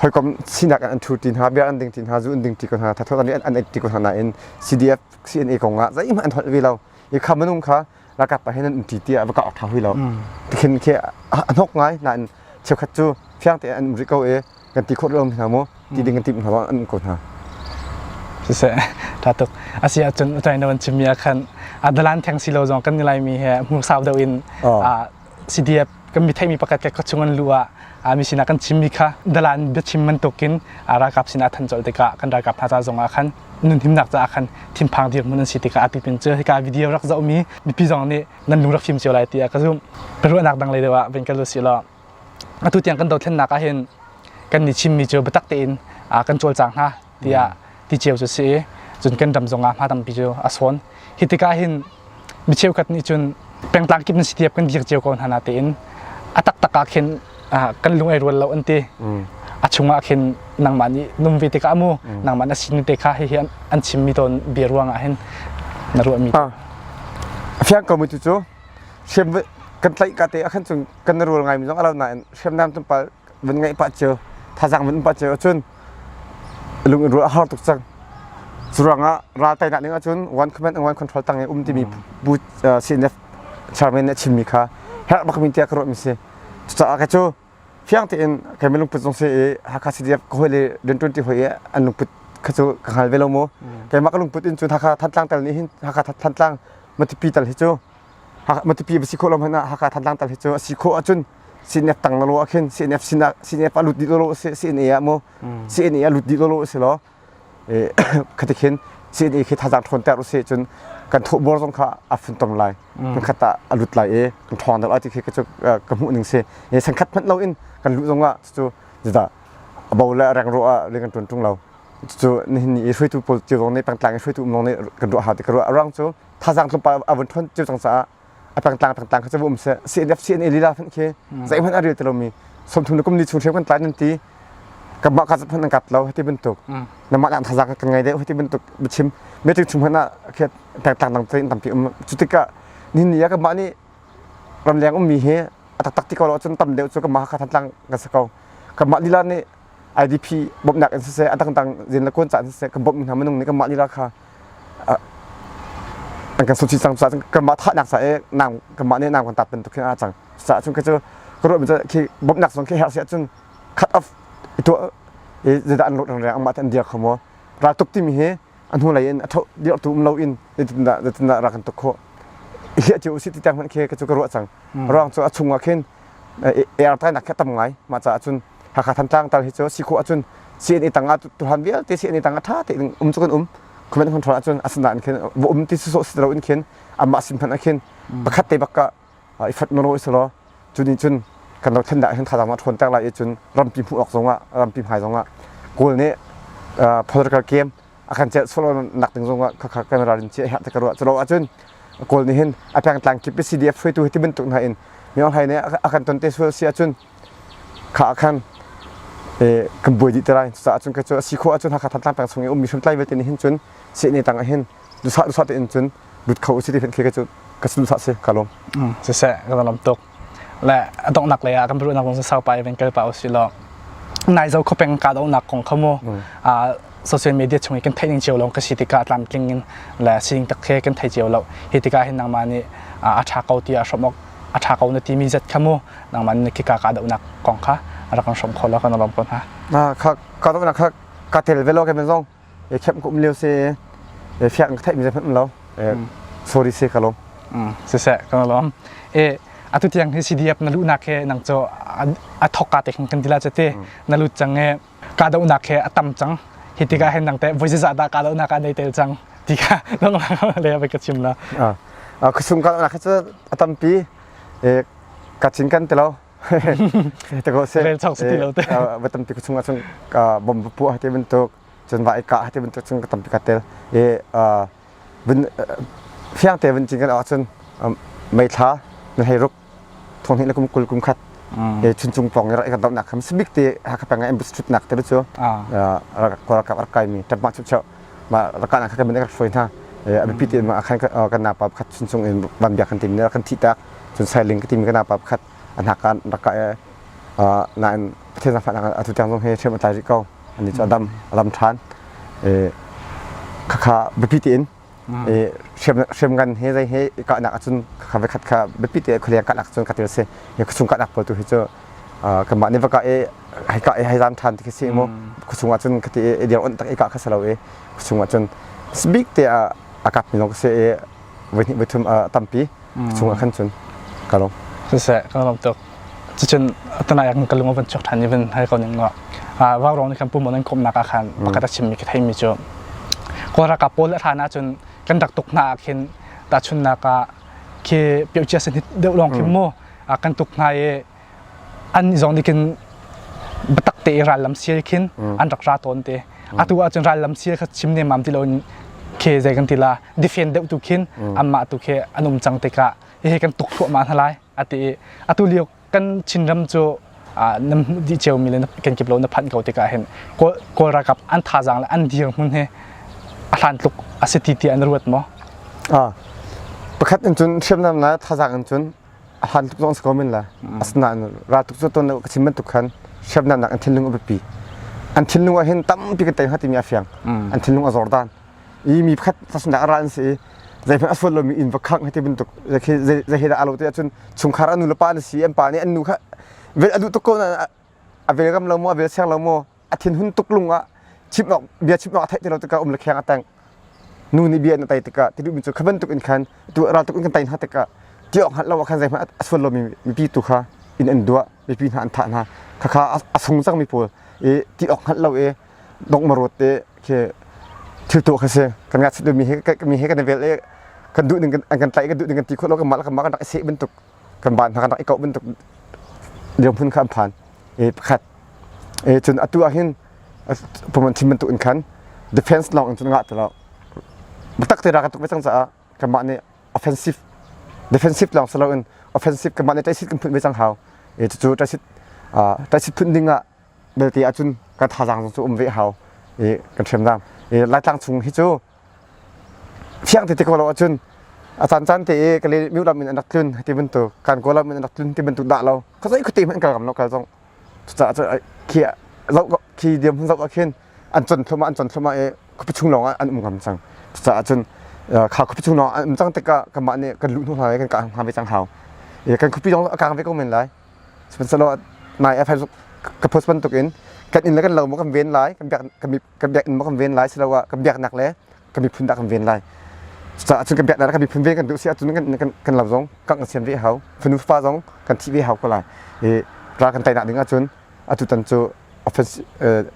hoikom sinak an thu tin ha bia an ding tin ha zu an ding ti ko hna thatho an an ti ko hna in CDF CNA konga zai ma an hol ve lo i khamanung kha ralkap pa hin an umṭi tiah va ka awk ṭha hui lo tikhin khi a hnok ngai nain cheukhat cu fiang tein an um rih ko i kan ti khawh lomi hna mu ti ding kan timh hna an um ko hna siseh ṭha tuk a si ahcun utai na van chimmi ah khan a dalan theng si lo zong kan ni laimi he hmursau deuh in CDF kan mi theimi pakhat ka chung an lu ah mi sinah kan chimmi kha dalan biachim bantukin ralkap sinah than colh tikah kan ralkap hna ca zongah khan nun himnak caah khan thinphang dirmun an si tikah a tipin cu hika video rak zohmi mipi zong nih nan lung rak fim cio lai tiah ka zumh ka ruahnak dang lei deuh ah vin ka lu si law atu tiang kan dothlennak ah hin kan ni chimmi cu biatak tein kan cawlcang hna tiah ti ceu cu si i cun kan ram zongah hma tampi cu a sawn hi tikah hin mi cheukhat nih cun pengtlang kip nan si tiap kan dir cio ko hna na tein a taktak ah khin kan lung ai rual lo an ti a chungah khin nangmah nih num ve tikah mu nangmah na sin te kha hihi an chimmi tawn bia ruangah hin na ruahmi fiang ko mu cu cu hrem kan tlaih ka te a khan chung kan rual ngai mi zong a lo na in hrem nam tum pal vun ngaih pa cheu thazang vun pa cheu cun lung in ruah har tuk cang curang ah ral tai nak ning ahcun one command and one control tang i um timi pu CNF chairman nih chimmi kha herh bak min tia ka ruah mi si cucaah ka cu fiang tein kai mi lungput zong se i Hakha CDF ka hoi le den 20 hoi i an lungput kha cu ka ngal ve lo mu keimah ka lungput in cun Hakha Thantlang tal nih hin Hakha Thantlang matipi tal hi cu matupi va si khawh lo hmanh ah Hakha Thantlang tal hi cu a si khawh ahcun CNF tang lolo ah khin CNF sin ah CNF ah lut dih lolo si CNA ah mu CNA ah lut dih lolo si law khatikhin CNA khi thazang ṭhawn ter usi cun kan thuh bor zong kha a fun ton lai kan khat ah a lut lai i kan ṭhawng dal ti khi ka cu ka hmuh ning si sangkhat hmanh lo in kan luh zong ah cu jada abo le reng ro ah ring kan ṭun ṭung lo cu nihin ni i hruaitu politik zong nih pangtlang i hruaitu um zong nih kan ruah hau ti ka ruah rang cu thazang cung pa a vun thon ceu cang caah a pangtlang pangtlang kha cu um se CNF CNA lila phanh khi zei hmanh a rel tilo mi somthum le kum ni chung hrem kan tlai nan ti kan mah kazat hman an kap lo hati bantuk na mah kan thazang kan ngai deh hati bantuk bichim meeting chung hman ah khiat tangtang dang tain tampi um cu tikah ni ni ya kan mah ni ram leng um mi he a tak tak ti ko lo cun tam deuh cu kan mah ka thantlang kan sa ko kan mah lila ni IDP bawmhnak in siseh a dangdang zin le kuan caan siseh kan bawmh hna minung nih kanmah lila kha an kan sunsi cang caah kanmah thahnak sa i nang kanmah nih nang kan tat bantuk hin a cang caah cun ka cu ka ruah min khi bawmhnak zong khi herh si ahcun cut off itu i zida an lut rang rang amah te an dia kho maw raltuk timi hi a hnulei in a tho dirhtu um loin zeitindah zeitindah rak kan tuk khawh hliah cio usih ti tiang hmanh khe ka cu ka ruah cang hmm. ruang cu a chungah khin air tai nak kha tam ngai mah caah cun Hakha Thantlang tal hi cu si khawh ahcun CNA tang ah tuhan vialte CNA tang ah tha te um cu kan um comment control ahcun asan da in khin um ti su so si lo in khin amma sim phan a khin pakhat te bakka i khat na rawi selaw cu nih cun kan ramthen ah hin thazang a ṭhawn ter lai i cun rampi hmuh awk zongah rampi hmai zongah Kawl nih political game a kan celh sawlaw nak ding zongah khakha kan ralrin cia herh ka ruah culo ahcun Kawl nih hin a pengtlang kip i CDF hruaitu hi tibantuk hna in myohlai nih a kan ton te sual si ahcun kha ah khan kan buai dih te lai cucaah cun cu a si khawh ahcun Hakha Thantlang peng chung i ummi hriamtlai vialte nih hin cun sehne tang ah hin duhsah duhsah tein cun lut kho usih ti hmenh khi ka cu ka sin duhsah si ka lawm siseh ka dalam tuk le a donghnak lei ah kan biaruahnak kong sasau pa even kal pa usih law nai zo kho peng ka dohnak kong kha mu social media chung i kan theih ning cio lo ka si tikah tlamtling in le sining tak he kan thei cio lo hi tikah hin nangmah nih a tha ko ti a hrawmok a ṭha ko na timi zet kha mu nangmah nih khika kahdohnak kong kha a rak kan hrawm kho lo kan lawm ko hna na kha kahdohnak kha ka tel ve lo ke men zong e khem kum leo se e fiang ka theimi zep lo e sorry se ka lo siseh kan lawm e atu tiang hi CDF na luhnak he nang cho a thokka te kan tila chate na lut change kahdohnak he a tam cang hi tikah hin nang teh voi zizah dah kahdohnak ah nei tel cang ti kha longlang le ka chim la a kusung kahdohnak hi cu a tampi kachin kan tilo te ko se rel chong si lo te ba tampi kusung a chung bom pu ha te bentuk chun va ka ha te bentuk chung ka tampi ka tel e bin fiang te bin chin kan a chun mei thla na hei ruk thonghnih le kum kul kum khat mm. he chuncung pawng i rak i kan dohnak kha sabik te hakha peng embassy thutnak te cu kawlralkap rak kaimi ṭampa chuk chuk ma rakana kha kan rak hruai hna a biapi tein ma khan kan napa pakhat chuncung in van bia kan tim ne kan thi tak cun sailing ka tim kan napa pakhat anakan raka na in pathian zafan atu tiang zong he hrem atlai rih ko ani chu adam alam ṭhan khakha biapi tein i hriamngan hi zei hi i kahnak ahcun kha voi khat kha biapi te khualiang kahnak cun ka ti a si hi khuachung kahnak pawl tu hi cu kanmah nih va kah i hei kah i hei zam ṭhan ti khi si mu khuachung ahcun ka ti i dir onh tak i kah kha si lo i khuachung ahcun bik te a kapmi lawng ka si i voihnih voithum a tampi chungah khan cun ka lawm siseh ka lawm tuk cucun tana yak ka lung van chok than ni van hai ko ning ngo a wa rong ni kan pum nan kom nak khan pakata chim mi ka thei mi chu ko ra ka pol tha na chun kan dak tuk na khin ta chun na ka khi pyo chia sen hit deu long khi mu a kan tuk na ye an zong nih khin biatak te i rallam sial khin an rak ra tawn te atu ahcun rallam sial kha chim ne mam ti lo in khe zei kan ti la defend deuh tu khin anmah tu khe an um cang tikah hihi kan tuk thluahmah hna lai ati i atu lio kan chinram cu na di cheu mi le kan kip lo na phanh ko tikah hin kawl rakap an thazang le an dir hmun he a hlan tluk a si ti ti an ruat maw pakhat in cun hriamnam le thazang in cun a hlan tuk zong si ko men la asinain ra tuk cu ton ka chim bantuk khan siamnak nak an thinlung a biapi an thinlung ah hin tampi ka tei ha timi a fiang an thinlung a zor dan i mi pakhat sasundak a ra an si i zeihmanh a suat lomi in va khang hati bantuk zei he dah a lo te ahcun chungkhar anu le pa na si an pa nih an nu kha a duh tuk ko na a vel gam lo maw a vel siang lo maw a thin hun tuk lung ah chip nok bia chip nok a theih ti lo tikah um le kheng a teng nu nih bia in a tai tikah ti duh mi cu kha bantuk in khan tu ral tuk in kan tai hna tikah ti awk hngat lo ah khan zeihmanh a suan lo mi mipi tu kha in an duah mipi hna an thah hna khakha a sung cang mi pawl i ti awk hngat lo i dong marot te khi thil tu kha si kan ngat sit mi he mi he kan vel i kan duh ning an kan tlaih kan duh ning kan ti khawt lo kan mal kan mal kan rak i seh bantuk kan van hna kan i kauh bantuk dirhmun kha an phan e pakhat e cun atu ah hin puman chim bantuk in khan defense lawng in cun ngah ti lo biatak te ra kan tuk ve cang caah kanmah nih offensive defensive lawng si loin offensive kanmah nih taisit kan phun ve cang hau e cucu taisit taisit phun ding ah belte ahcun kan thazang cu um ve hau e kan hrem dam e laitlang chung hi cu Thiang tete ko lo ahcun a caan caan te i Kali miu lam in an rak tlun ti bantuk kan kaw lam in an rak tlun ti bantuk dah lo ka zei khuate hmanh kal ngam lo kal zong cucaah cu khi zoh khi diam hun zoh ah khin an con thuma an con thuma i khupi chung lawng ah an um ngam cang cucaah cun kha khupi chung lawng an um cang tikah kanmah nih kan luh hnu hna lai kan kah hngam ve cang hau i kan khupi zong a kang ve ko men lai sihmanhsehlaw nai a phai ka post bantuk in kan inn le kan lo maw kan ven lai kan biak kan ka biak in kan ven lai siloah ka biaknak le ka miphun dah kan ven lai cucaah cun kan biaknak le kan miphun ven kan duh si ahcun kan kan, kan lau zong kan kan sian ve hau fanu fa zong kan thi ve hau ko lai i ra kan tainak ding ahcun atu tan cu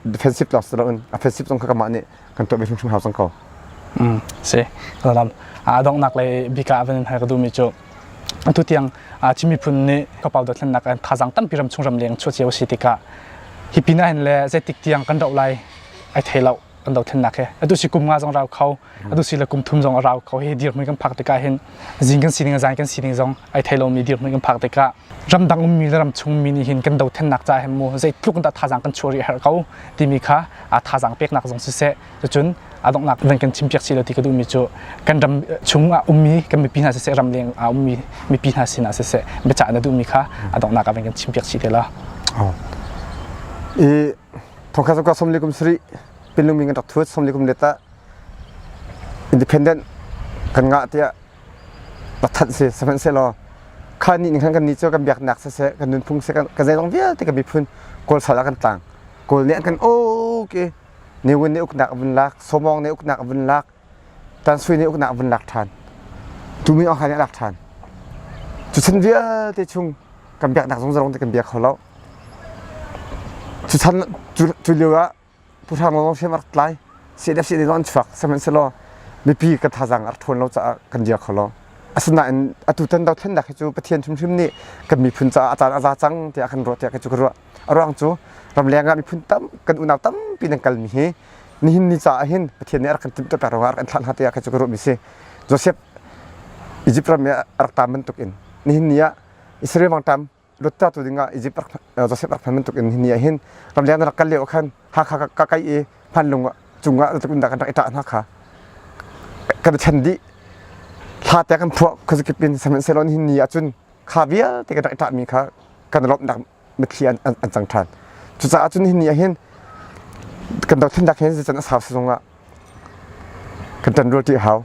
defensive lawng si loin offensive zong kha kamah nih kan tuah ve hrimhrim hau cang ko si lam a donghnak le bika van in hai ka duhmi cu Atutiang Chin miphun nih kapau dothlennak an thazaang tampi ram chung ram leng chuah cio a si tikah hi pinah hin le zeitik tiang kan doh lai ai thei lo kan dothlennak hi atu si kum nga zong rau kho atu si le kum thum zong a rau kho hi dirhmun kan phak tikah hin zing kan sining zai kan sining zong ai thei lomi dirhmun kan phak tikah ramdang ummi le ram chungmi nih hin kan dothlennak ca hin mu zeitluk in dah thazaang kan chuah rih a herh ko timi kha thazaang peknak zong siseh Cucun aa donghnak van kan chimpiak sih law ti ka duhmi cu kan ram chung ah ummi kan mipi hna siseh ram leng ah ummi mipi hna sin ah siseh biacah na duhmi kha a donghnak ah van kan chimpiak sih te la. I thongkhat sokka somli kum suri pinlung mi kan rak thuat somli kum leta independent kan ngah tiah pathat se sahman se law kha ni ning khan kan ni cho kan biak nak se se kan nun phung se kan ka zai long vialte kan bi phun kol sal a kan tlang kol ne an kan okay Niwin nih uknak vun lak, Somawng nih uknak vun lak, Tansui nih uknak vun lak ṭhan. Tumi Aung Hlaing nih a lak ṭhan. Cuchan vialte chung kan biaknak zong zarong te kan bia kho lo. Cuchan cu lio ah Pu Hrang Lawng hriam a rak tlai. CNFCD zong an chuak. Sihmanhsehlaw mipi kan thazaang a rak ṭhawn lo caah kan dir kho lo. Asinain atu tan dothlennak hi cu Pathian hrimhrim nih kan miphun caah a caan a za cang tiah a kan ruah tiah kei cu ka ruah. A ruang cu ramleng ah miphun tam kan unau tampi nan kalmi hi nihin ni caah hin Pathian nih a rak kan timhtuahter ruangah a rak kan thlah hna tiah kha cu ka ruahmi si. Joseph Egypt ram ah a rak tam bantuk in nihin ni ah Israel mangtam lut ta tu dingah Egypt Joseph rak phan bantuk in nihin ni ah hin ramleng na rak kal lio khan Hakha ka kai i hmanlung cungah na tukundah kan rak i ṭah hna kha kan chan dih hla te kan phuah khazikip in sahmanhsehlaw nihin ni ah cun kha vialte ka rak i ṭahmi kha kan lawmhnak mitthli an, an, an cang ṭhan cucaah cun hinih ahhin kan dothlennak hin zeican a sau sizung ah kan ṭanrualṭi a hau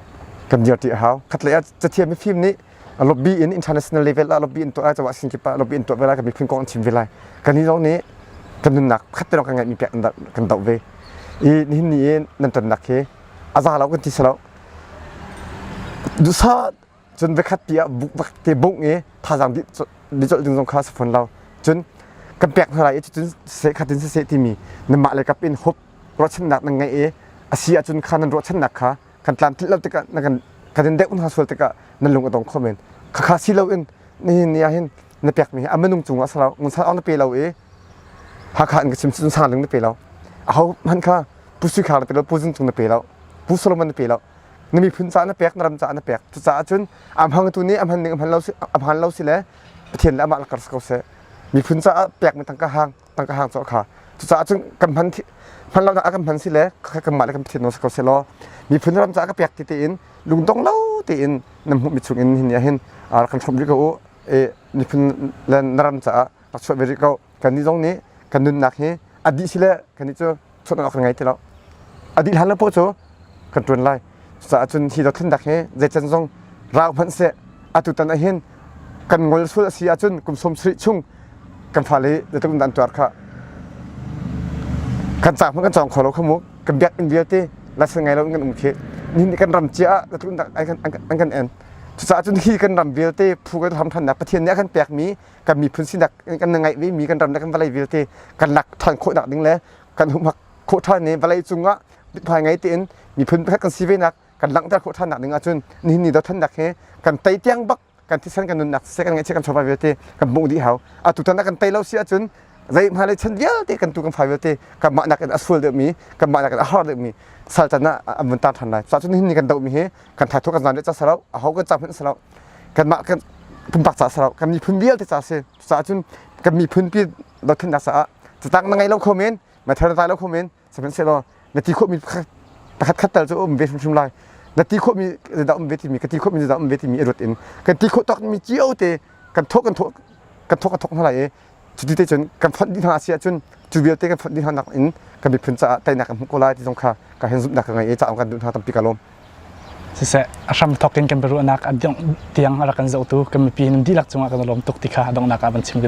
kan dirṭi a hau khatlei ah cathiam mifim nih a lobby in international level ah lobby in tuah lai cawah sin kip ah lobby in tuah ve lai kan miphun kong an chim ve lai kan hi zong nih kan nunnak khatterok kan ngeihmi pek kan doh ve i nihin ni in nan tonnak hi a za lo kan ti sa lo duhsah cun vekhat pi ah buk te bungh i thazaang bi colh ding zong kha sa fon lo cun kan pek hna lai i cun seh khatin seh timi nanmah le kap in hup ruahchannak nan ngeih i a si ahcun kha nan ruahchannak kha kan tlan thilh lo tikah na kan kan in deuh hna sual tikah nan lung a dong kho men khakha si loin nihin ni ahhin na pekmi hi a minung cungah salo ngunsal awng na pe lo i hakha in ka chim cun sang ling na pe lo a ho hman kha pu sukhar na pe lo pu zun tung na pe lo pu solomon na pe lo na miphun ca na pek na ram ca na pek cucaah cun a hmangtu nih a hman ning a hman lo si a hman lo si le pathian le amah la kar si ko seh miphun caah pek mi tangka hang tangka hang cu a kha cucaah cun kan hman hman lo kan hman si le kan mah le kan pathian no si ko se law miphun ram caah ka pek ti tein lungdong lo tein nam hmuh mi chungin hin ya hin kan chom rih ko u e miphun le na ram caah tak chuah ve rih ko kan ni zong nih kan nunnak hi a dih si le kan ni cu suat awk kan ngei ti lo a dih hlan le paw cu kan ṭuan lai cucaah cun hi dothlennak hi zeican zong rau hmanh seh atu tan ahhin kan ngol sual a si ahcun kum sawm sarih chung kan fale zeitluk in dan tuar kha kan cang hmanh kan cawng kho lo kha mu kan biakinn vialte lasen ngai lo in kan um khi nihin kan ram cia ah zeitluk in dah an kan en cucaah cun hi kan ram vialte phu kan ram ṭhannak pathian nih a kan pekmi kan miphun sinak kan ngeih ve mi kan ram le kan vawlei vialte kan lak ṭhan khawhnak ding le kan humhak khawh ṭhan i vawlei cungah hmai ngai tein miphun pakhat kan si venak kan langhter khawh ṭhannak ding ahcun nihin ni dothannak hi kan tei tiang bak kan thisen kan nunnak siseh kan ngaihchiat kan chawva vialte kan hmuh dih hau a tutan ah kan tei lo si ahcun zei hmalei chan vialte kan tu kan fai vialte kan mah nakin a sual deuhmi kan mah nakin a har deuhmi sal can ah an vun tan ṭhan lai cuahcun nihin ni kan dohmi hi kan thatho kan zan le ca sarau a ho kan cam hin sarau kanmah kan pumpak ca sarau kan miphun vialte ca si cucaah cun kan miphun pi dothlennak caah catang na ngei lo kho men na thar na lo kho men sihmanhsehlaw na ti khawhmi pakhat khat tal cu um ve hrimhrim lai na ti khawhmi dah um ve timi ka ti khawhmi dah um ve timi i ruat in kan ti khawh tawkmi cio te kan thawh kan thawh kan thawk a thawk hna lai i Cuti te cun kan fonh dih hna si ahcun cu vialte kan fonh dih hna nakin kan miphun caah teinak kan hmuh ko lai ti zong kha ka hen zumhnak ka ngei i caang kan duh hna tampi ka lawm. Siseh a hram thawk in kan biaruahnak a tiang a rak kan zohtu kan mipi nan dihlak cungah kan lawm tuk ti kha donghnak ah van chim ka duh.